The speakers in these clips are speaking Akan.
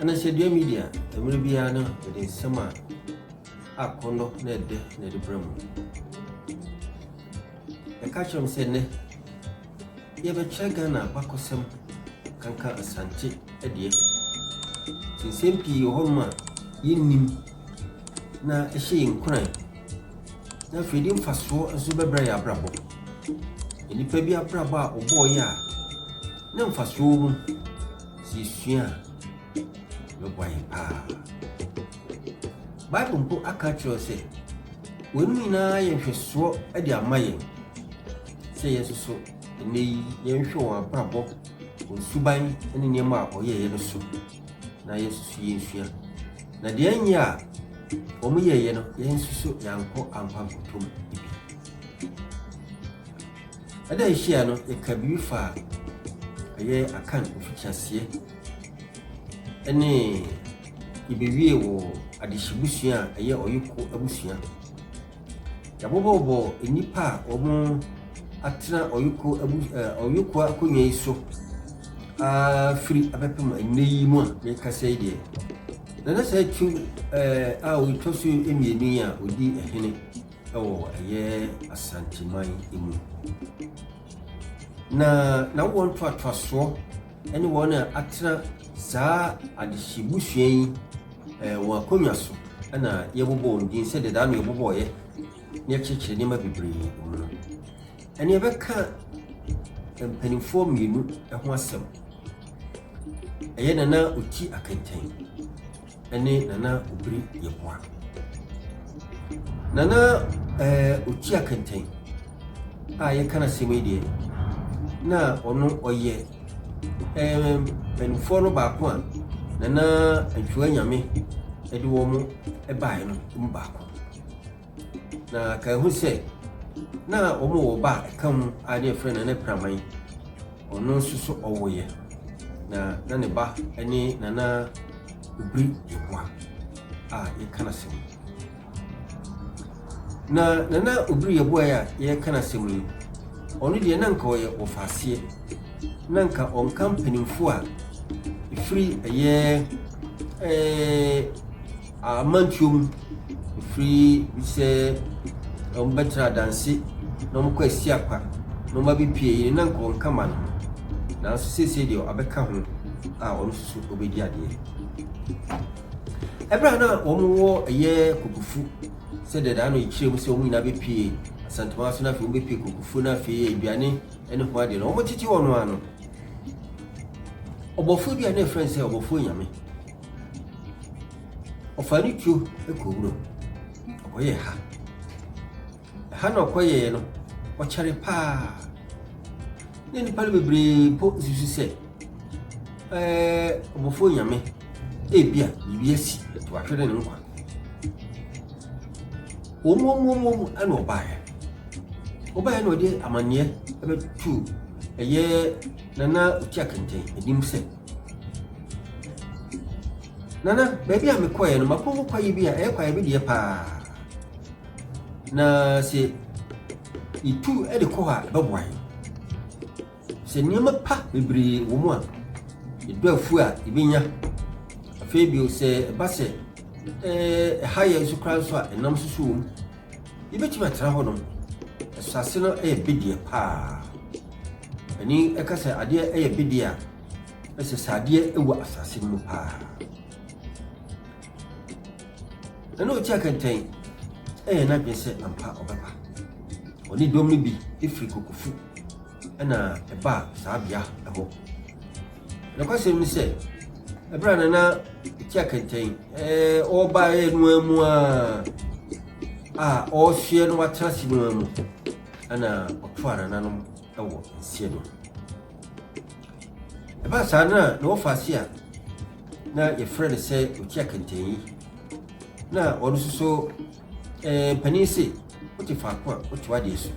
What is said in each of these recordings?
Anasadua Media, Mmere biara no yɛde nsɛm a akɔnnɔ na ɛdɛ na ɛde brɛ mo. Yɛka kyerɛ mo sɛ nnɛ yɛbɛkyerɛ Ghana abakɔsɛm kanka Asante deɛ. Nti nsɛm pii wɔ hɔnom a yɛnnim na ɛhyɛ yɛn nkuran na afei de mfasoɔ nso bɛbrɛ yɛ abrabɔ. Nnipa bi abrabɔ a wɔbɔɔeɛ a na mfasoɔ wɔ mu. Yesua a, ɛbɛboa yɛn paa. Bible mpo aka akyerɛ wo sɛ, Weinom nyinaa yɛ nhwɛsoɔ de ama yɛn sɛ yɛn nso so ɛnnɛ yi yɛnhwɛ wɔn abrabɔ, wɔn suban ne nneɛma a wɔyɛeɛ no so na yɛn nso so yɛnsua. Na deɛ ɛnyɛ a wɔyɛeɛ no, yɛn nso so yɛankɔ ampa nkɔtɔ mu bi. Ɛda a ehyia no, yɛkaa biribi faa ɛyɛ Akan mfitiaseɛ ne yɛbɛwiee wɔ adehyebusua a ɛyɛ Ɔyeko abusua. Yɛabobɔbobɔ nnipa a wɔn atena Ɔyeko abu eh, Ɔyeko akonnwa yi so aa firi abɛpem ɛnnɛ yi mu a mekasa yi deɛ. Na na saa tu eh, a ɔtwa so mmienu yi a ɔdi ɛhene. wɔ ɛyɛ Asanteman mu. Na n'awoɔ ntoatoasoɔ ne wɔn a atena saa adehye busua yi eh, wɔn akonnwa so na yɛbobɔ wɔn din sɛ dedaa no yɛbobɔeɛ na yɛkyerɛkyerɛ nneɛma bebree mu no. Ɛne yɛbɛka mpanimfoɔ mmienu ho asɛm. Ɛyɛ Nana Oti Akentɛn ne Nana Obiri Yeboah. Nana eh, Okyia Kɛntɛn a yɛka no asɛm yi deɛ, na ɔno ɔyɛ eh, mpanimfoɔ no baako a Nana Antwiwa Nyame de wɔn baeɛ no mu baako. Na kae hu sɛ, na wɔwɔ ɔba a ɛka mu a na yɛfrɛ no Nana Piraman. Ɔno nso so ɔwoeɛ, na na ne ba ne Nana Obiri Yeboah a yɛka no asɛm yi. Na Nana Obiri Yeboah yi a yɛka no asɛm yi, ɔno deɛ na nka ɔyɛ wɔfaaseɛ, na nka ɔnka mpanimfoɔ a ɛfiri ɛyɛ ɛɛ. amantuom firi sɛ wɔbɛtra adanse na wɔkɔ asiakwa na wɔn abɛ pie yere na nka wɔn ka ma no ho nanso seesei deɛ abɛka ho a wɔn nso so wɔbɛdi adeɛ ɛberɛ a na wɔn wɔ ɛyɛ kokofu sɛ dɛdaa no ɛkyerɛ mu sɛ wɔn nyinaa bɛpie asantoma so na afei wɔn bɛpie kokofu na afei aduane ne ho adeɛ no wɔn tete wɔn ano ɔbɔfoɔ bi a na ɛfrɛ sɛ ɔbɔfoɔ nyame Ɔfaa ne tuo kɔɔ wuram. Ɔkɔyɛɛ ha. Ɛha na ɔkɔyɛeɛ no, ɔkyɛre paa. Na nnipa no bebree mpo susu sɛ, ɛɛ, ɔbɔfoɔ nyame, ebia biribi asi, ɛto ahwere ne nkwa. Wɔn mu wɔn mu wɔn ɛna ɔbaeɛ. Ɔbaeɛ na ɔde amanneɛ ɛbɛtu ɛyɛ nana otia kɛntɛn anim sɛ. Nana, baabi a mekɔeɛ no, makɔ hɔ kwaeɛ bi a ɛyɛ kwaeɛ bi deɛ paa. Na sɛ yɛtu de kɔ hɔ a, ɛbɛboa yɛn. Sɛ nneɛma pa bebree wɔ mu a, yɛdɔ afuo a yɛbɛnya. Afei bio sɛ ɛba sɛ ɛha yɛn nso koraa nso a, ɛnam nso so wɔ mu. Yebetumi atena hɔ nom. Asase no yɛ bedeɛ paa. Ani ka sɛ adeɛ yɛ bedeɛ a, ɛsɛ sɛ adeɛ wɔ asase no mu paa. Ɛna ɔti akɛntɛn ɛyɛ n'adwene sɛ ampa ɔbɛba. Ɔne dɔm no bi firi Kokofu ɛna ɛbaa saa bea hɔ. Nokwasɛm ne sɛ, ɛberɛ a Nana Ɔti Akɛntɛn ɔrebaeɛ no ara mu ara a ɔresoɛ na watena ase no ara mu na ɔtoaa nananom wɔ nseɛ no mu. Ɛbaa saa no na na wɔfa ase a na yɛfrɛ no sɛ Okyia Kɛntɛnyi. Na ɔno nso so eh, mpanin se wote faako a wote w'adeɛ so.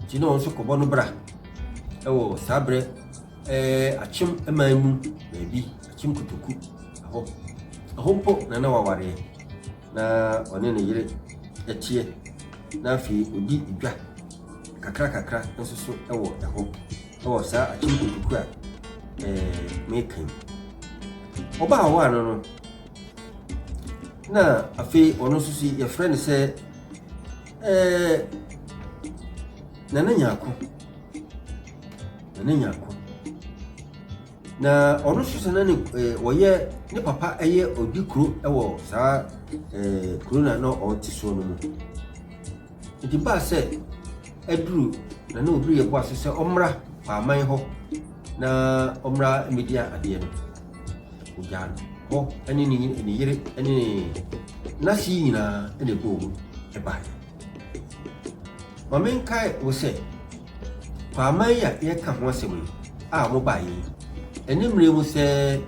Nti na ɔno nso kɔbɔ no bra wɔ saa berɛ eh, akyem man mu baabi, akyem kotoku ɛhɔ. Ɛhɔ mpo na na wawareɛ. na ɔne ne yere teɛ, na afei ɔdi dwa kakrakakra nso so wɔ ɛhɔ wɔ saa akyem kukuku a meka yi. Ɔbaa hɔ ano no, na afei ɔno nso so yɛfrɛ no sɛ Nana Nyako. Nana Nyako. Na ɔno nso sɛ na ne eh, wɔyɛ ne papa yɛ odi kuro wɔ saa eh, kuro na na ɔte soɔ no mu nti baa sɛ aduru na na obi yɛbɔ ase sɛ ɔmmra paaman hɔ na ɔmmra mmɛdi adeɛ no ogyaa no hɔ ne ne yere ne n'ase nyinaa na ɛbɔɔ mu ɛbaeɛ Ma menkae wo sɛ, kɔ aman yi a yɛreka ho asɛm yi a wɔbaeɛ yi ɛne mmerɛ mu sɛɛ.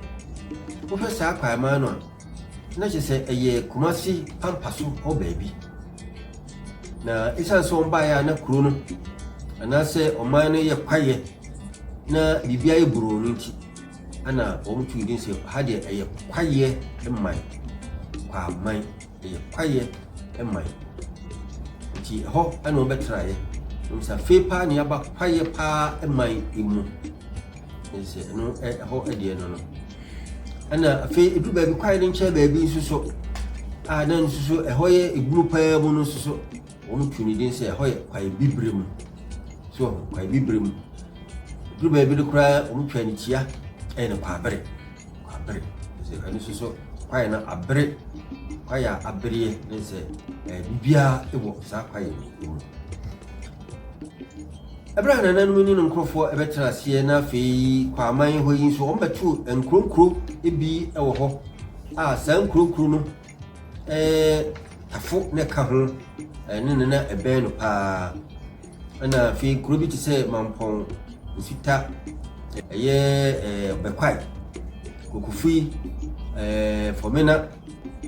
Wohwɛ saa kwaeɛ man no a, na kyerɛ sɛ ɛyɛ Kumasi pampa so hɔ baabi. Na ɛsiane sɛ wɔbaeɛ a na kuro no anaasɛ ɔman no yɛ kwaeɛ na biribiara yɛ boroo no nti, ɛna wɔn tu din sɛ ha deɛ ɛyɛ kwaeɛ man, kwaman. Ɛyɛ kwaeɛ man. Nti ɛhɔ na wɔbɛtenaeɛ. Wɔn sɛ afei paa na yɛaba kwaeɛ paa man mu. Ɛsɛ ɛno ɛhɔ deɛ no no. Ɛna afei edu baabi kwaeɛ no nkyɛn baabi nso so a na nso so ɛhɔ yɛ ebunu paa mu no nso so wɔn tu ne din sɛ ɛhɔ yɛ kwaeɛ bibire mu. So kwaeɛ bibire mu. Edu baabi no koraa wɔn twa ne tia ɛyɛ no kwaabere. abere ɛfisɛ ɛno nso so kwaeɛ no abere kwaeɛ a abereɛ ne sɛ ɛɛ biribiara wɔ saa kwaeɛ no mu ɛberɛ a nananom ne no nkurɔfoɔ ɛbɛtena aseɛ na afei kɔ aman hɔ yi nso wɔbɛto nkuronkuro bi wɔ hɔ a saa nkuronkuro no tafo na ɛka ho, ɛno na na ɛbɛn no pa ara. Ɛnna afei kuro bi te sɛ Mampɔn, Nsita, ɛyɛ ɛɛ Ɔbɛkwae, Kokofi, ɛɛ Fɔmena,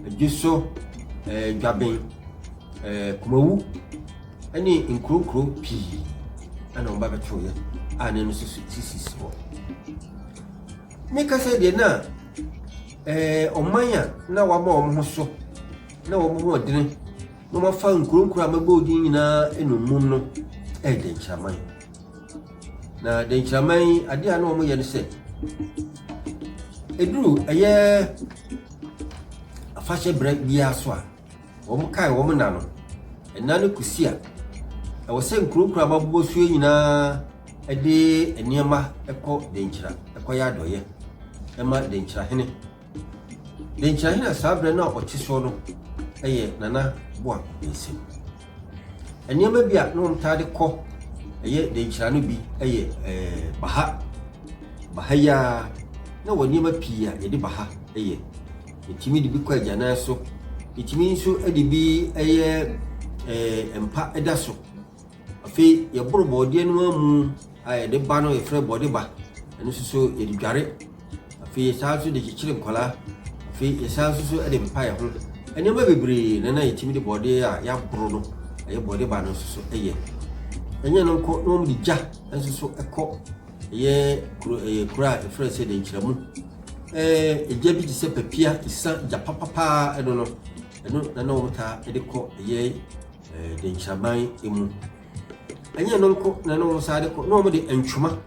Adwiso, ɛɛ Dwaben, ɛɛ Kumawu ne nkuro nkuro pii na wɔba bɛtoeɛ a na ɛno nso sisi hɔ. Meka sɛ deɛ na Ɛɛ ɔman a na wɔama wɔn ho so na wɔn ho ɔdene na wɔafa nkuro nkuro a mɛbɔ odin nyinaa nnommum no ɛyɛ dɛnkyiraman na dɛnkyiraman yi adeɛ a na wɔn yɛ no sɛ eduru ɛyɛ afahyɛ berɛ biara so a Wɔkae wɔn nna no, nna no kosi a ɛwɔ sɛ nkurow nkurow a wɔabobɔ so yi nyinaa de nneɛma kɔ Denkyira kɔyɛ adɔeyɛ ma Denkyirahene. Denkyirahene a saa berɛ no a ɔte soɔ no yɛ Nana Boako Bensen. Nneɛma bi a na wɔtaa de kɔ ɛyɛ Denkyira no bi yɛ ɛɛ baha. Baha yi ara na wɔ nneɛma pii a yɛde baha yɛ. Yɛtumi de bi kɔ agyanan so. Yɛtumi nso de bi yɛ ɛɛ mpa da so. Afei yɛboro bɔɔdeɛ no ara mu a yɛde ba no yɛfrɛ bɔde ba. Ɛno nso so yɛde dware. Afei yɛsan nso de kyekyere nkwadaa. Afei yɛsan nso so de mpa yɛ ho. Nneɛma bebree na na yɛtumi de bɔɔdeɛ a yɛaboro no ɛyɛ bɔde ba no nso so yɛ. Ɛnyɛ no nko na wɔde gya nso so kɔ. Ɛyɛ kuro ɛyɛ kuro a yɛfrɛ no sɛ Dɛnkyiramu. Ɛɛ gya bi te sɛ papia, esiam, gya papapaa ɛno no, ɛno na na wɔtaa de kɔ ɛyɛ ɛɛ Dɛnkyiraman mu. Ɛnyɛ ɛno nko na na wɔn san de kɔ, na wɔn de ntoma,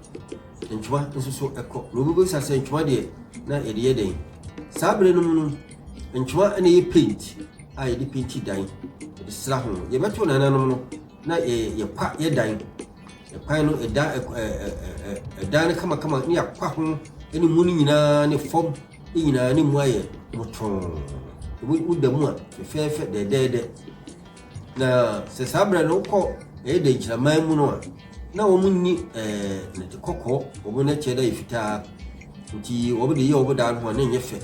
ntoma nso so ɛkɔ. Na obi bisa sɛ ntoma deɛ na yɛde yɛ dɛn? Saa berɛ no mu no, ntoma na ɛyɛ paint a yɛde painti dan, yɛde sra ho. Yɛbɛto nananom no na yɛ yɛkwa yɛ dan. Ɛkwan no, ɛda ɛk ɛ ɛ ɛ ɛdan no kamakama ne yɛakwa ho ne mu no nyinaa ne fam ne nyinaa ne mu ayɛ motɔn. Woda mu a fɛfɛɛfɛ dɛdɛɛdɛ. Na sɛ saa berɛ no wokɔ ɛyɛ dɛ nkyiraman mu no a na wɔn nni ɛɛ nɛte kɔkɔɔ wɔn no kyɛ dɛ yɛ fitaa nti wɔn de yɛ wɔn dan ho a na ɛnyɛ fɛ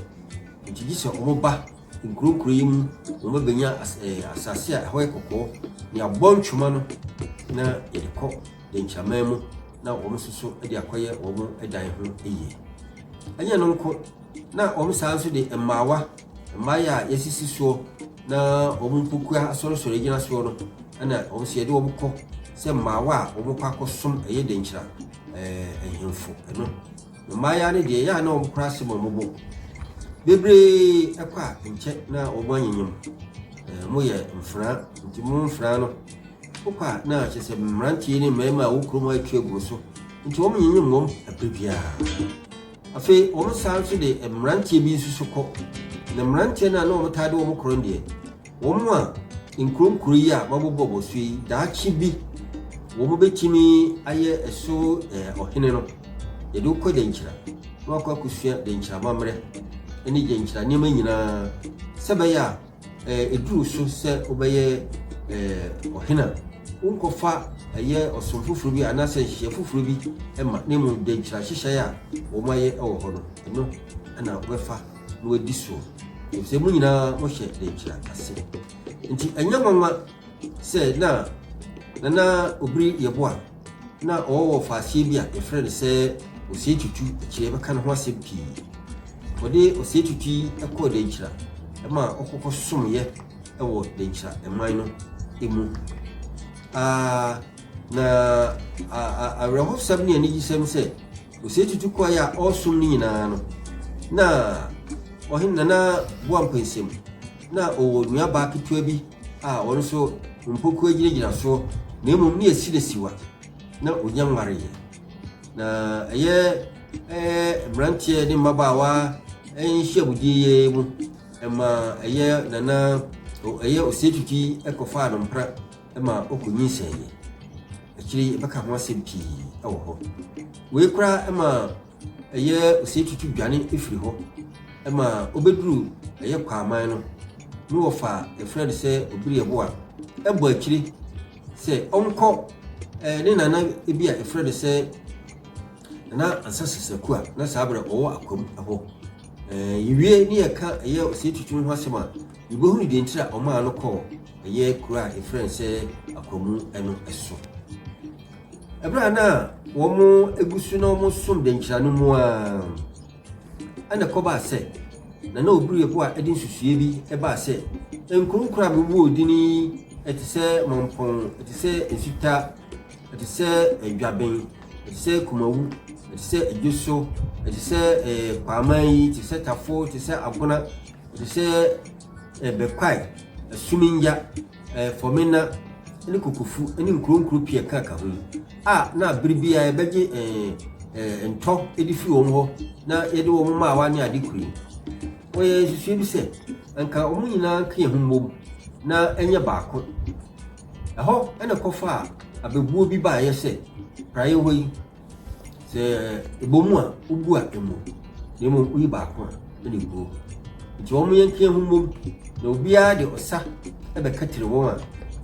nti gye sɛ wɔn ba Nkurokurow yi mu na wɔbɛnya asase a ɛhɔ yɛ kɔkɔɔ, nea wɔbɔ ntwema no na yɛde kɔ dɛnkyɛmman mu na wɔn nso so de akɔyɛ wɔn dan ho yie. Ɛnyɛ no nko, na wɔn saa nso de mmaawa, mmaayɛ a yɛasisi soɔ na wɔn mpokua asɔresɔre gyina soɔ no, ɛna wɔn nso yɛde wɔn kɔ sɛ mmaawa a wɔkɔ akɔsom ɛyɛ dɛnkyira ɛɛ nhemfo ɛno. Mmayewa no deɛ, ɛyɛ a na wɔkora asɛm a wɔbɔ mu bebree kɔ a, nkyɛ na wɔn anyenyem. Ɛɛ, moyɛ mfena, nti mo mfena no, wokɔ a na kyerɛ sɛ mmeranteɛ ne mmarima a wɔkura mu atwi agu so, nti wɔn nyenyem wɔn ɛberɛ biara. Afei, wɔn san nso de mmeranteɛ bi nso so kɔ, na mmeranteɛ no a na wɔtaa de wɔn korɔ no deɛ, Wɔn a nkuro nkuro yi a wɔabobɔ wɔ so yi, daakye bi wɔbɛtumi ayɛ ɛso ɔhene no. Yɛde wo kɔ Gyankyira na wakɔ akɔsua Gyankyira amammerɛ ne Gyankyira nneɛma nyinaa sɛ bɛyɛ a ɛduru so sɛ wobɛyɛ ɔhene a wonkɔfa ɛyɛ ɔsom foforɔ bi anaasɛ nhyehyɛ foforɔ bi ma na mmom Gyankyira nhyehyɛeɛ a wɔayɛ wɔ hɔ no ɛno na wobɛfa na wɔadi soɔ, efisɛ mo nyinaa mohyɛ dɛnkyira ase. Nti ɛnyɛ nwanwa sɛ na Nana Obiri Yeboah na ɔwɔ wɔfaaseɛ bi a yɛfrɛ no sɛ Osei Tutu, akyire yɛbɛka ne ho asɛm pii. Wɔde Osei Tutu yi kɔɔ dɛnkyira ma ɔkɔkɔsomeeɛ wɔ dɛnkyira man no mu. Ah, na awerɛhosɛm ne anigyesɛm sɛ, Osei Tutu kɔe a ɔresom no nyinaa no, na ɔhene Nana Boampɛ nsam. Na ɔwɔ nuabaa ketewa bi a ɔno nso mpokuwa gyinagyina soɔ, na mmom ne yɛsi no siwa. Na ɔnya nwareeɛ. Na ɛyɛ ɛɛ mmeranteɛ ne mmabaawa nhyiamudie yi ara mu ɛma ɛyɛ Nana ɛyɛ Osei Tutu yi kɔfaa no mpena. ma ɔkɔ nyinsɛn yɛ. Akyire yi yɛbɛka ho asɛm pii wɔ hɔ. Wei koraa ma ɛyɛ osetutu dwane firi hɔ ma ɔbɛduru ɛyɛ kwaaman no ne wɔfa yɛfrɛ no sɛ obiri ɛbo a ɛbɔ akyire sɛ ɔnkɔ eh, ne nana bi a yɛfrɛ no sɛ nana ansa sesaku a na saa berɛ ɔwɔ akwam hɔ eh, yɛwie ne yɛka ɛyɛ osetutu ho asɛm a Yebehunu deɛ nti a wɔmaa no kɔɔ ɛyɛ kuro a yɛfrɛ no sɛ Akwamu no so. Ɛberɛ a na wɔgu so na wɔsom dɛnkyira no mu ara ɛna ɛkɔbaa sɛ na na obi rebo a ɛde nsusuiɛ bi ɛbaa sɛ nkuro koro a mebobɔɔ din yi ɛte sɛ Mampɔn, ɛte sɛ Nsuta, ɛte sɛ Adwaben, ɛte sɛ Kumawu, ɛte sɛ Adwoso, ɛte sɛ ɛɛ Kwaaman yi, ɛte sɛ Tafo, ɛte sɛ Agona. te sɛ ɛbɛkwae, ɛsominja, ɛfɔmena ne kokofu ne nkuronkuro pia ka ka ho yi a na bere bi a ɛbɛgye ɛɛ ntɔ de fi wɔn hɔ na yɛde wɔn mmaawa ne ade kuro yi wɔyɛ nsusuo bi sɛ nka wɔn nyinaa nka yɛn ho mmom na ɛnyɛ baako ɛhɔ ɛna kɔfa a abɛbuo bi baayɛ sɛ praeɛ hɔ yi Sɛ ɛbɔ mu a, wogu a ɛmmɔ. Na mmom woyi baako a ɛna ɛguo. Nti wɔn yɛ nkeɛ ho mmom na obiara de ɔsa bɛkatiri wɔn a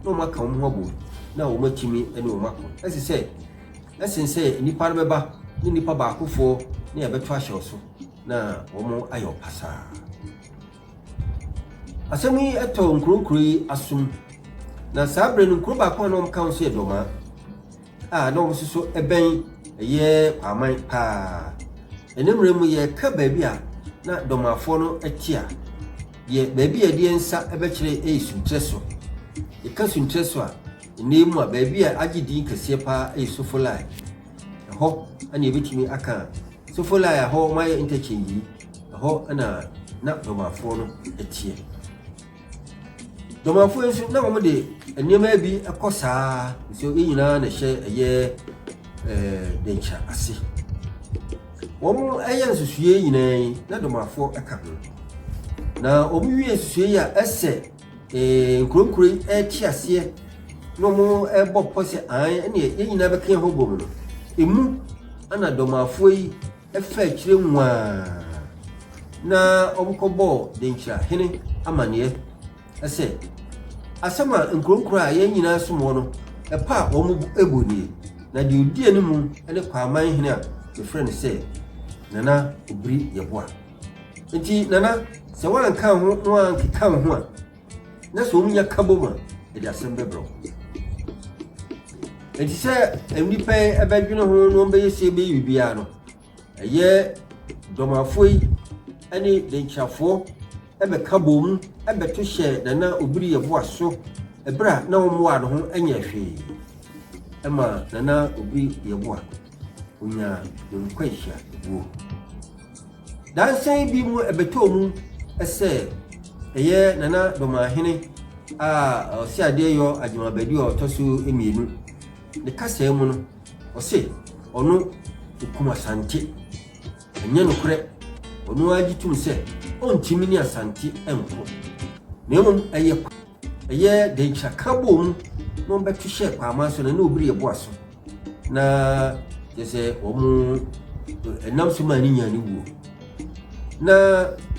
na wɔn aka wɔn ho abom na wɔn atumi ne wɔn ako. Ɛsɛ sɛ ɛsen sɛ nnipa no bɛba ne nnipa baakofoɔ ne ɛbɛto ahyɛ wo so na wɔn ayɛ ɔpasaa. Asɛm yi ɛtɔ nkuro nkuro yi asom na saa berɛ no nkuro baako a na wɔn ka ho sɛ yɛ dɔmaa a na wɔsoso bɛn ɛyɛ Kwaaman paa. Ɛnnɛ mmerɛ mu yɛka baabi a na Dɔmafoɔ no te a, yɛ baabi a yɛde yɛn nsa bɛkyerɛ yɛ Sunkyerɛ so. Yɛka Sunkyerɛ so a, ɛnnɛ mu a baabi a agye din kɛseɛ paa yɛ Sofolai. Ɛhɔ na yɛbɛtumi aka Sofolai a ɛhɔ wɔayɛ interchange yi, ɛhɔ na na Dɔmafoɔ no teɛ. Dɔmanfoɔ nso na wɔn de nneɛma bi kɔ saa nso ne nyinaa na ɛhyɛ ɛyɛ ɛɛ denkyɛ ase wɔn ɛyɛ nsusuie nyinaa yi na dɔmanfoɔ ɛka ho na wɔn wie nsusuie yi a ɛsɛ ɛɛ nkuronkuro yi ɛte aseɛ na wɔn ɛbɔ pɔ sɛ an ɛne yɛn nyinaa bɛka yɛn ho bɔ mu no emu ɛna dɔmanfoɔ yi. Ɛfa akyire nwaa na wɔkɔbɔɔ Denkyira hene amanneɛ sɛ, Asɛm a nkuronkuro a yɛn nyinaa som wɔ no, ɛpɔ a wɔn bɔ nie, na deɛ ɔdi animu ne Kwaaman hene a wɔfrɛ no sɛ Nana Obiri Yeboah. Enti Nana, sɛ woanka wo ho na woankeka wo ho a, na sɛ wɔnya ka bom a, ɛde asɛm bɛbrɛ wo. Enti sɛ nnipa yi ɛbɛdwene ho na wɔbɛyɛ sie bɛyɛ biribiara no, ɛyɛ dɔmafoɔ yi ne denkyirafoɔ ɛbɛka bom ɛbɛto hyɛ Nana Obiri Yeboah so ɛberɛ a na wɔmmoa no ho nyɛ hwee ɛma Nana Obiri Yeboah onyaa ne nkwanhyia wuo. Dansan bi mu ɛbɛtɔɔ mu sɛ ɛyɛ Nana Domahene a ɔse adeɛ yɔ Agyemabadi a ɔtɔ so mmienu ne kasaa mu no ɔse ɔno ɔkum Asante. Ɛnyɛ nokorɛ, ɔno ara gye tom sɛ ɔntumi ne Asante nko na mmom ɛyɛ kwa ɛyɛ Denkyira ka bɔɔ mu na ɔbɛto hyɛɛ Kwaaman so na ɛne Obiri ɛboa so. Na kyerɛ sɛ wɔn ɛnam so maa ne nyaa ne wuo. Na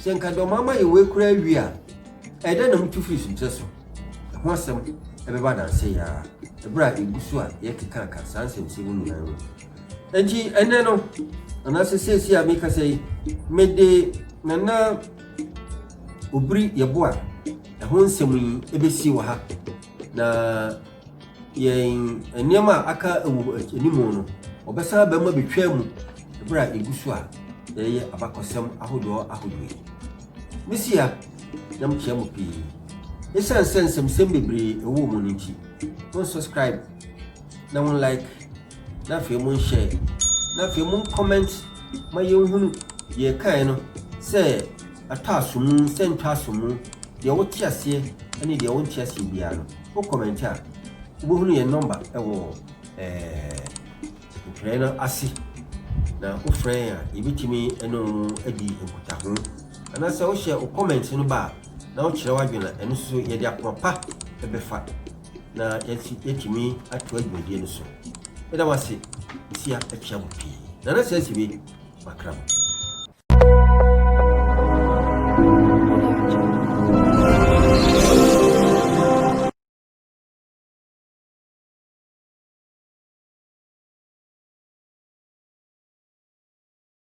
sɛ nka deɛ wɔn ama yɛ wei koraa wie a, ɛdɛ na motu firi sunkyerɛ so. Ɛho asɛm ɛbɛba adanse yɛ a, ɛberɛ a ɛgu so a yɛkekaaka saa nsɛmsɛm mu nyinaa mu. Enti ɛnɛ no, anaasɛ seesei a meka sɛ yi, mede nana obiri yɛboa ɛho nsɛm yi ɛbɛsie wɔ ha. Na yɛn nneɛma a aka wɔ anim no, wɔbɛsan aba mu abɛtwa mu berɛ a yɛgu so a yɛyɛ abakɔsɛm ahodoɔ ahodoɔ yi. Mesia, yam kyea mo pii. Ɛsiane sɛ nsɛmsɛm bebree ɛwɔ mu no nti, mo subscribe na mo like na afei mo nhyɛ na afei mo comment ma yɛnhunu deɛ ɛkaeɛ no sɛ atɔ aso mu sɛ ntɔ aso mu deɛ wote aseɛ ne deɛ wonte aseɛ biara no wo comment a wobɛhunu yɛn number ɛwɔ ntwerɛ no ase na wofrɛ yɛn a yɛbɛtumi ɛne wo adi nkutaho anaasɛ wohyɛ wo comment no ba a na wokyerɛ w'adwene a ɛno nso yɛde akoma pa ɛbɛfa na yɛasi yɛatumi atoa dwumadie no so. Meda wo ase, nsia akyia mo pii. Nana sɛ asibe, makra mo.